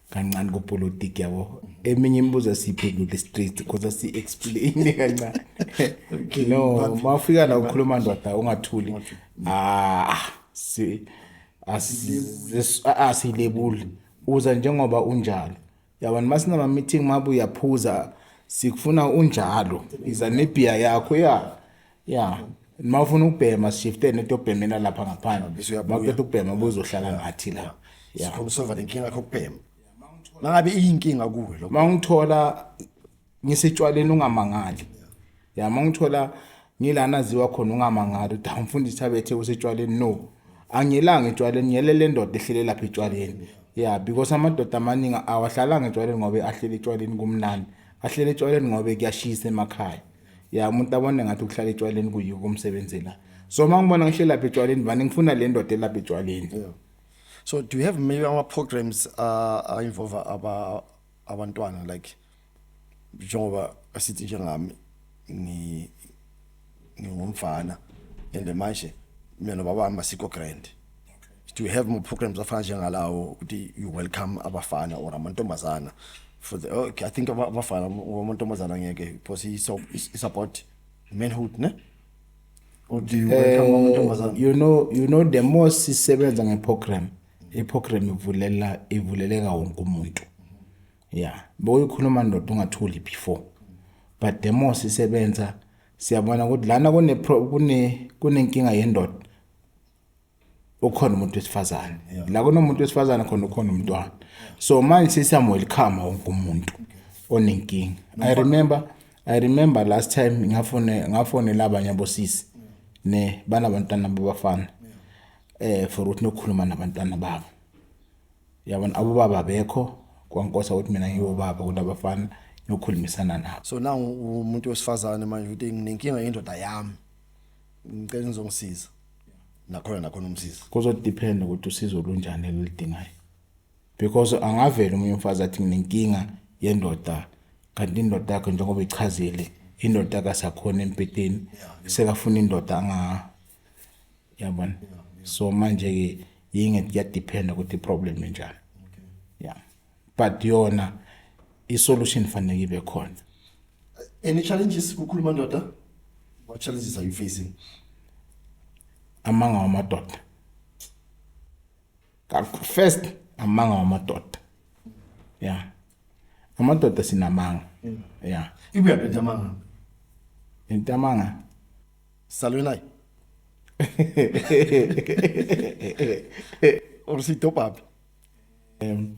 kancane kupolitiki yabo eminye imibuzo esiyiphendula straight because asiyi-explain kancane no uma ufika la ukhuluma ndoda ungathuli ah si asilebuli uza njengoba unjalo yabona uma sinama-meeting mabe uyaphuza sikufuna unjalo iza nebhiya yakho ya ya uma ufuna ukubhema sishifte nento yobhemela lapha ngaphandle maqeda ukubhema buzohlala ngathi la sikhomsova lenkinga yakho kubhema mangabe iyinkinga kuwe lo mangithola ngisitshwaleni ungamangali ya mangithola ngilana ziwa khona ungamangali uthi amfundisi abethe usitshwaleni no angilanga etshwaleni ngiyelele ndoda ehlele lapha etshwaleni ya because amadoda amaningi awahlalanga etshwaleni ngoba ahlele etshwaleni kumnandi ahlele etshwaleni ngoba kuyashisa emakhaya ya umuntu abone ngathi ukuhlala etshwaleni kuyiko umsebenzi la so uma ngibona ngihlelapha etshwaleni vane ngifuna le ndoda elapha etshwaleni yeah. so do you have maybe our programs uh, are involve aba abantwana like njengoba asithi njengami ni ngingumfana and manje mina nobaba hamba sikho grand to have more programs afana njengalawo ukuthi you welcome abafana or amantombazana for the okay i think abafana amantombazana ngeke because he so is about manhood ne or do you welcome eh, amantombazana you know you know the more sisebenza ngeprogram iprogram ivulela ivuleleka wonke umuntu yeah boyikhuluma ndoda ungathuli before but the more sisebenza siyabona ukuthi lana kune kune kunenkinga yendoda ukhona umuntu wesifazane la kunomuntu wesifazane khona ukhona umntwana so manje sesiyamwelcome wonke umuntu onenkinga i remember i remember last time ngafone ngafonela abanye abosisi ne banabantwana babafana eh for ukuthi nokukhuluma nabantwana babo yabona abobaba bekho kwankosa ukuthi mina ngiyobaba kodwa abafana nokukhulumisana nabo so now umuntu wesifazane manje uthi nginenkinga yendoda yami ngicela ngizongisiza nakhona nakhona umsizi kuzodepend ukuthi usizo olunjani elidingayo because angavela umunye umfazi athi nginenkinga yendoda kanti indoda yakhe njengoba ichazile indoda kasakhona empeteni sekafuna indoda anga yabona so manje ke yinge kuyadephenda ukuthi iproblem enjani ya but yona isolution fanele ibe khona any challenges kukhuluma ndoda what challenges are you facing amanga wamadoda first amanga wamadoda yeah amadoda sinamanga mm. yeah ibuya phethe amanga into amanga salwe naye Or si topap. um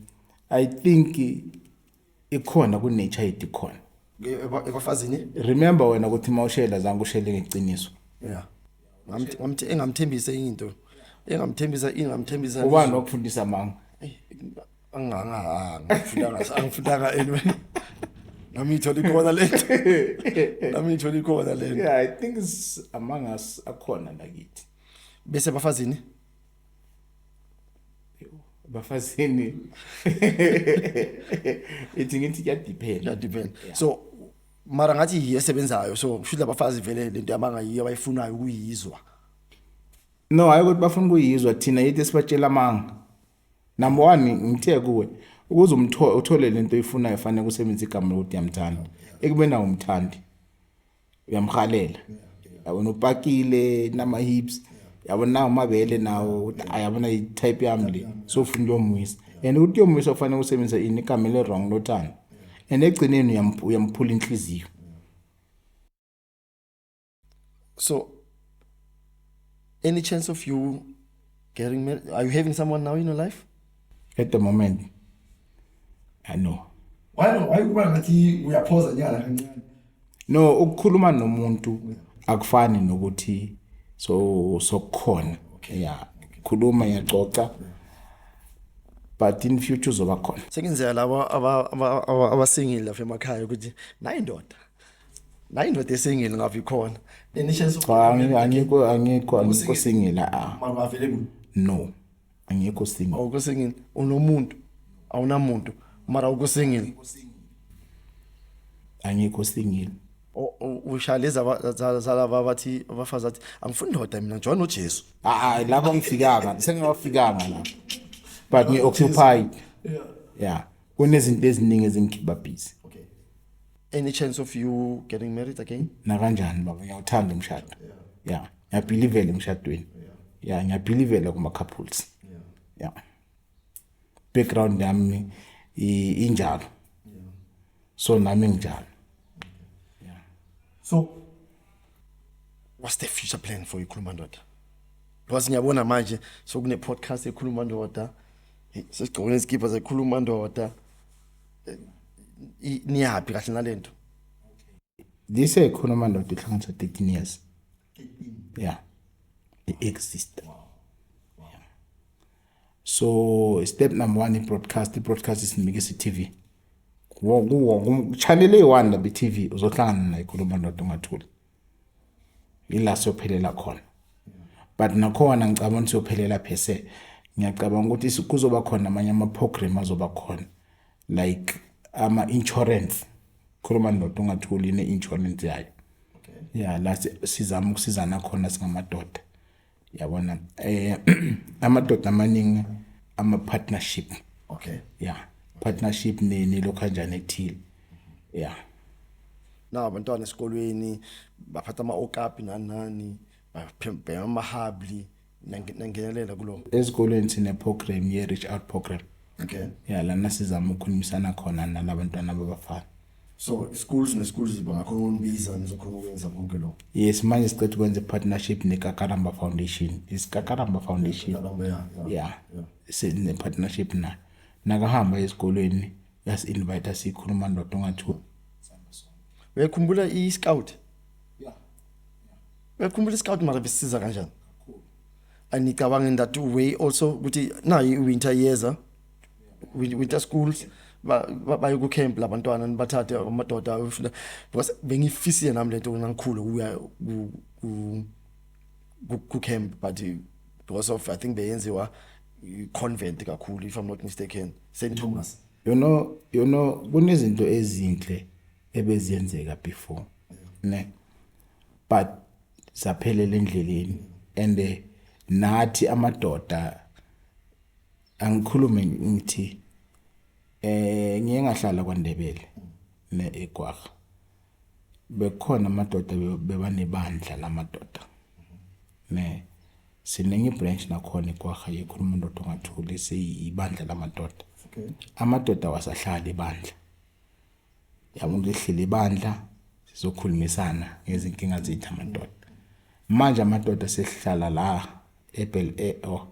i think ikhona kunature yethu ikhona ebafazini remember wena ukuthi uma ushela zange ushele ngeqiniso yeah Ngamthi- ngamthi- engamthembisa into engamthembisa ingamthembisa ubani wakufundisa amanga angangahanga angifundanga angifundanga anyway nami ithola ikhona lento nami ithola ikhona lento yeah i think it's among us akhona nakithi bese bafazini bafazini ithi ngithi kuyadiphenda kuyadiphenda so mara ngathi yiyo esebenzayo so kusho labafazi vele lento yabangayiyo abayifunayo ukuyizwa no hayi ukuthi bafuna ukuyizwa thina yithi sibatshela amanga number one ngithe kuwe ukuze umthole uthole lento oyifunayo fanele usebenzise igama lokuthi yamthanda ekubeni awumthandi uyamhalela yabona upakile nama hips yabona nawo amabele nawo ukuthi ayabona i type yami le so ufuna ukuyomwisa and ukuthi uyomwisa kufanele usebenzise ini igama le wrong lothando and egcineni uyamphula inhliziyo so any chance of you getting married are you having someone now in your life at the moment i know why no why kuba ngathi uyaphoza nyala kancane no ukukhuluma nomuntu akufani nokuthi so sokukhona okay yeah khuluma yacoca but in future uzoba khona sekenzela laba abasingile lapha emakhaya ukuthi nayi indoda nayi indoda esingile ngabe ikhona angikho angikho angikho singile a ah. no angekho single awukho single unomuntu awunamuntu mara awukho single angekho single O- o- usha leza ba- za- zalaba abathi abafazi athi angifuni ndoda mina njengoba nojesu hayi lapho ngifikanga sengiwafikanga la but ngi-occupied ya kunezinto eziningi ezingikhipha busy any chance of you getting married again nakanjani baba ngiyawuthanda umshado ya yeah. ngiyabhilivela emshadweni ya yeah. ngiyabhilivela kuma-couples ya yeah. background yami injalo so nami nginjalo so what's the future plan for ikhuluma ndoda because ngiyabona manje sokune-podcast ekhuluma ndoda sesigqokile izikibha zekhuluma ndoda i- niyaphi kahle nalento This ekhona amandoda ehlanganisa 13 years. Yeah. It exists. Yeah. So step number 1 i-broadcast, i-broadcast isinikisa i-TV. Kuwo kuwo channel eyi-1 la be-TV uzohlangana naye khona umandoda ungathuli. yila siyophelela khona but nakhona ngicabanga ukuthi siyophelela phese ngiyacabanga ukuthi kuzoba khona amanye ama-program azoba khona like ama-insurance khuluma ndoda ungatholi ne-insurance yayo ya la sizama ukusizana khona singamadoda yabona eh amadoda amaningi ama partnership okay yeah partnership nini lo kanjani ethile yeah na abantwana esikolweni baphatha ama okapi nani nani baphembhema amahabli nangenelela kulo esikolweni sine program ye reach out program okay yeah lana sizama ukukhulumisana khona nalabantwana babafana so schools neschools bangakhona ukunbiza nizokhona ukwenza konke lokho yes manje sicetha ukwenza i-partnership nekakaramba foundation isikakaramba foundation ya sine-partnership nayo nakahamba ezikolweni yasi-invite siyikhuluma ndoda ongathiwa uyakhumbula i-scout uyakhumbula i-scout mara besiza kanjani angicabangi that way also ukuthi nayo i-winter yeza with, with the schools baye ku camp labantwana nibathathe amadoda ayofunda because bengifisile nami lento ngikhulu kuya ku ku camp but because of i think beyenziwa convent kakhulu if i'm not mistaken st thomas you know you know kunezinto ezinhle ebeziyenzeka before ne but saphelela endleleni and eh, nathi amadoda angikhulume ngithi eh ngiye ngahlala kwaNdebele ne eGwagga bekukhona amadoda bebanebandla lamadoda ne siningi branch nakhona eGwagga yekhuluma indoda ongathuli siyibandla lamadoda amadoda wasahlala ibandla Yabo ngihlile ibandla sizokhulumisana ngezinkinga zethu amadoda. Manje amadoda sesihlala la eBel Air e, oh,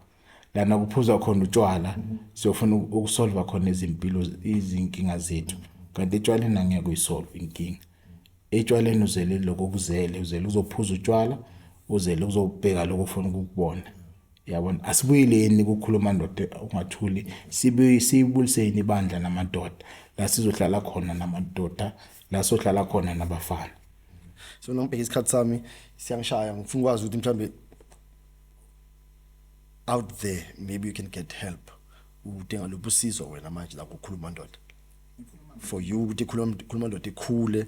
lana kuphuzwa khona utshwala siyofuna ukusolva khona izimpilo izinkinga zethu kanti etshwaleni angeke uyisolve inkinga etshwaleni uzele lokho kuzele uzele uzophuza utshwala uzele uzobheka lokho ufuna ukukubona yabona asibuyeleni kukhuluma ndoda ungathuli sibuye siyibuliseni ibandla namadoda la sizohlala khona namadoda la sohlala khona nabafana so nangibheka isikhathi sami siyangishaya ngifuna ukwazi ukuthi mhlambe out there maybe you can get help udinga luphi usizo wena manje la kukhuluma ndoda for you ukuthi khuluma khuluma ndoda ikhule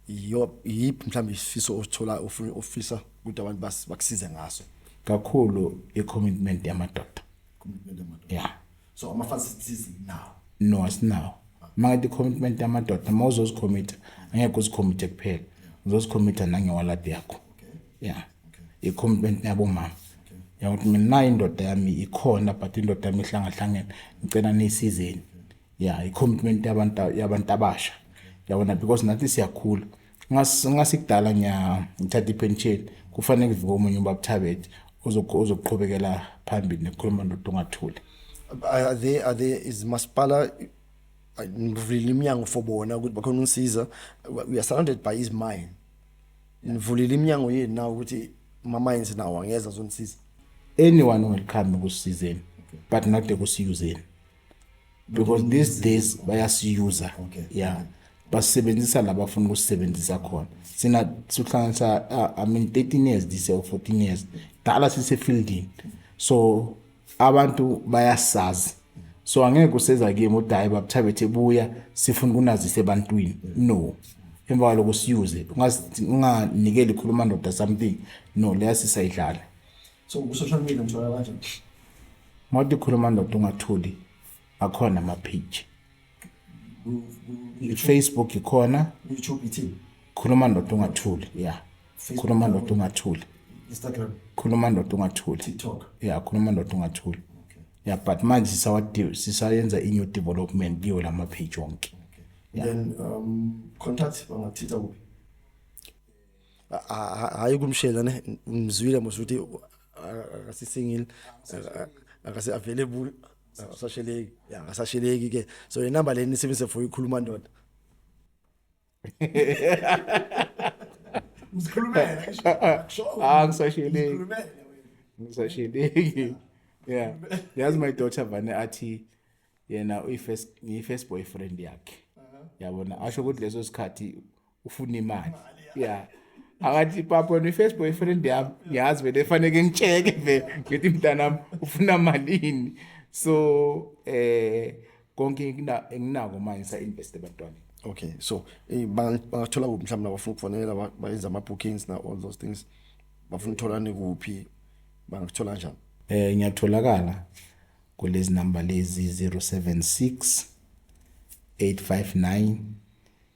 yiyo yiphi mhlawumbe isifiso osithola ofisa ukuthi abantu bakusize ngaso kakhulu i-commitment yamadoda commitment yamadoda yeah so amafana sithize now no asinawo makathi i-commitment yamadoda uma uzozikhomitha angeke uzikhomithe kuphela uzozikhomitha nangewaladi yakho yeah i-commitment yabomama yakuthi mina nayo indoda yami ikhona but indoda yami ihlangahlangene ngicela niyisizeni ya i-commitment yabantu yabantu abasha yabona because nathi siyakhula ngasikudala ngithatha ipension kufanele kuvuke omunye ubabuthabethe ozoqhubekela phambili nekukhuluma ndoda ungathuli are there are there is masipala ngivulile iminyango for bona ukuthi bakhona unsiza we are surrounded by his mind ngivulile iminyango yenu nawo ukuthi mama yenze nawo angeza zonisiza anyone welcome kusizeni but not ekusiyuzeni because these days bayasiyuza okay. yeah basisebenzisa la bafuna ukusisebenzisa khona sina sihlanganisa uh, i mean 13 years this year or 14 years dala sisefieldini so abantu bayasazi so angeke kuseza kimi ukuthi hayi babuthabethe buya sifuna ukunazisa ebantwini no emva kwaloko siyuze unganikeli khuluma ndoda something no leya sisayidlala so ku-social media ngithola kanjani mawuthi khuluma ndoda ungathuli akhona ama-page i-facebook ikhona youtube ithini khuluma ndoda ungathuli ya khuluma ndoda ungathuli instagram khuluma ndoda ungathuli tiktok ya khuluma ndoda ungathuli ya but manje sisayenza i-new development kiwo la ma-page wonke then um contact bangathitha kuphi hayi kumshela ne ngizwile mos ukuthi akasi single akasi available akasasheleki ya akasasheleki ke so i number leni sibise for ikhuluma ndoda Ngizikhulumela ngisho. Ah ngisasheleki. Ngisasheleki. Yeah. Yazi my daughter vane athi yena uyi first ngiyi first boyfriend yakhe. Yabona asho ukuthi leso sikhathi ufuna imali yeah akathi papa ne first boyfriend yami ngiyazi vele efaneke ngitsheke vele ngithi mntanami ufuna malini so eh konke enginako manje sa invest ebantwaneni okay so eh, bangathola kuphi mhlawumbe abafuna ukufonela bayenza ama bookings na all those things bafuna utholane kuphi bangakuthola njani eh ngiyatholakala kulezi number lezi 076 859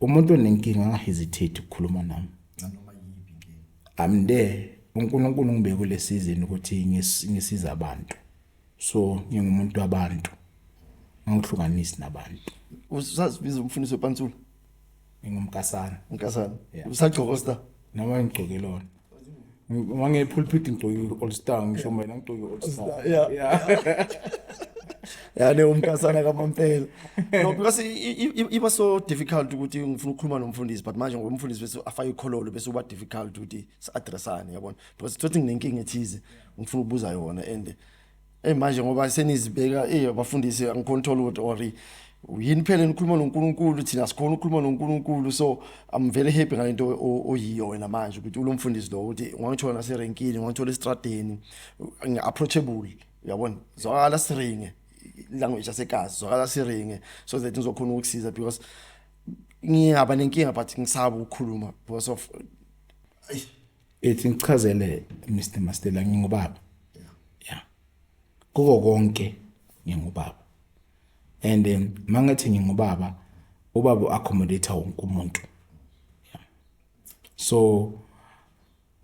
Umuntu onenkinga angahesitate ukukhuluma nami. Nanoma yipi inkinga. I'm there. UNkulunkulu ngibe kule season ukuthi ngisiza abantu. So ngingumuntu wabantu. Angihlukanisi nabantu. Usazibiza umfundisi wepantsula? Ngingumkasana. Umkasana. Usagcokosta? Noma ngigcokelona. Uma ngepulpit ngigcoke i-all star ngisho mina ngigcoke i-all star. Yeah. Yeah. ya leyo mkasana kamampela no because iba so difficult ukuthi ngifuna ukukhuluma nomfundisi but manje ngoba umfundisi bese afake ikhololo bese uba difficult ukuthi si-addressane yabona because thothi nginenkinga ethize ngifuna ukubuza yona and Hey manje ngoba senizibeka eh bafundisi angicontrol ukuthi or yini phela nikhuluma noNkulunkulu thina sikhona ukukhuluma noNkulunkulu so I'm very happy ngalento oyiyo wena manje ukuthi ulomfundisi lo ukuthi ungangithola naserenkini ungangithola estradeni approachable uyabona zwakala siringe language yasekazi zwakala siringe so that ngizokhona ukusiza because ngiyaba nenkinga but ngisaba ukukhuluma because of ethi ngichazele Mr Mastela ngingubaba yeah kuko konke ngingubaba and um, mangathi ngingubaba ubaba accommodate wonke umuntu yeah. so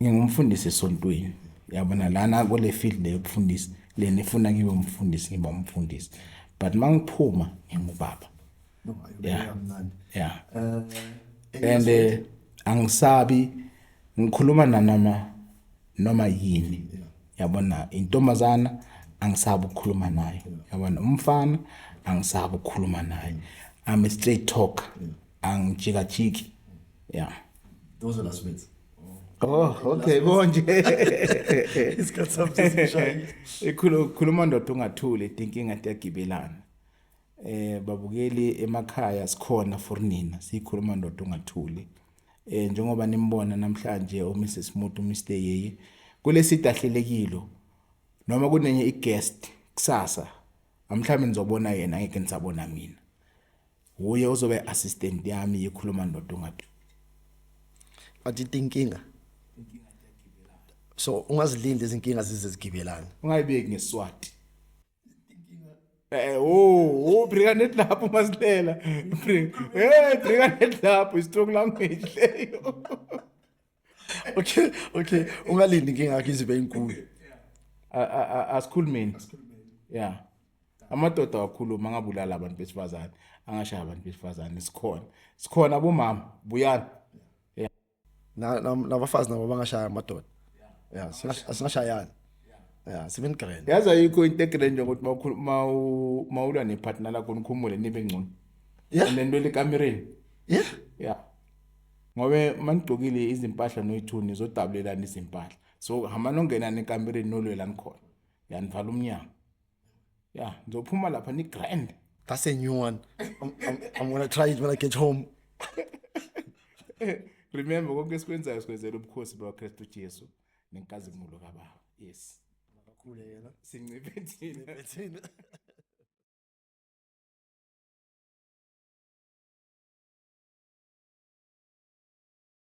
ngingumfundisi esontweni yabona lana kule field le yokufundisa lena ifuna ngibe umfundisi ngiba umfundisi but mangiphuma ngingubaba yeah. yeah. uh, and uh, angisabi ngikhuluma nanoma noma yini yabona intombazana angisabi ukukhuluma naye yabona umfana angisabi ukukhuluma naye i'm a straight talker angijikajiki yeah those are last words Oh, okay, konje. Isikhathi sami sesishayile. Ikhuluma ndoda ungathuli, inkinga iyagibelana. Eh babukeli emakhaya sikhona for nina sikhuluma ndoda ungathuli. Eh njengoba nimbona namhlanje o Mrs Mutu Mr Yeye kulesida ahlelekile noma kunenye i guest kusasa amhlawumbe nizobona yena ngeke nisabona mina. Uye uzobe assistant yami yikhuluma ndoda ungathuli. But inkinga so ungazilindi izinkinga zize zigibelana. Ungayibeki ngeswati. Eh, oh, oh, briga net lapho masilela. Briga. Eh, briga net lapho strong language leyo. Okay, okay. Ungalindi inkinga yakhe izibe enkulu. Asikhulumeni. Yeah. Amadoda awakhuluma angabulala abantu besifazane, angashaya abantu besifazane sikhona. Sikhona bomama, buyani. na nabafazi nabo bangashaya amadoda yeah singashayana yeah sibe ni grand yazi ayikho into egrand njengokuthi mawukhulu mawu mawula ne partner lakho nikhumule nibe ngcono yeah lento le kamereni yeah yeah ngobe manigqokile izimpahla noyithuni zodabulelana izimpahla so hamba nongena nekamereni nolwelani khona yanivala umnyango ya ngizophuma lapha ni grand that's a new one i'm, I'm, I'm gonna try it when i get home remember konke esikwenzayo sikwenzela ubukhosi bakristu jesu nenkazimulo kababa yes makakhule yena sinciphe thina thina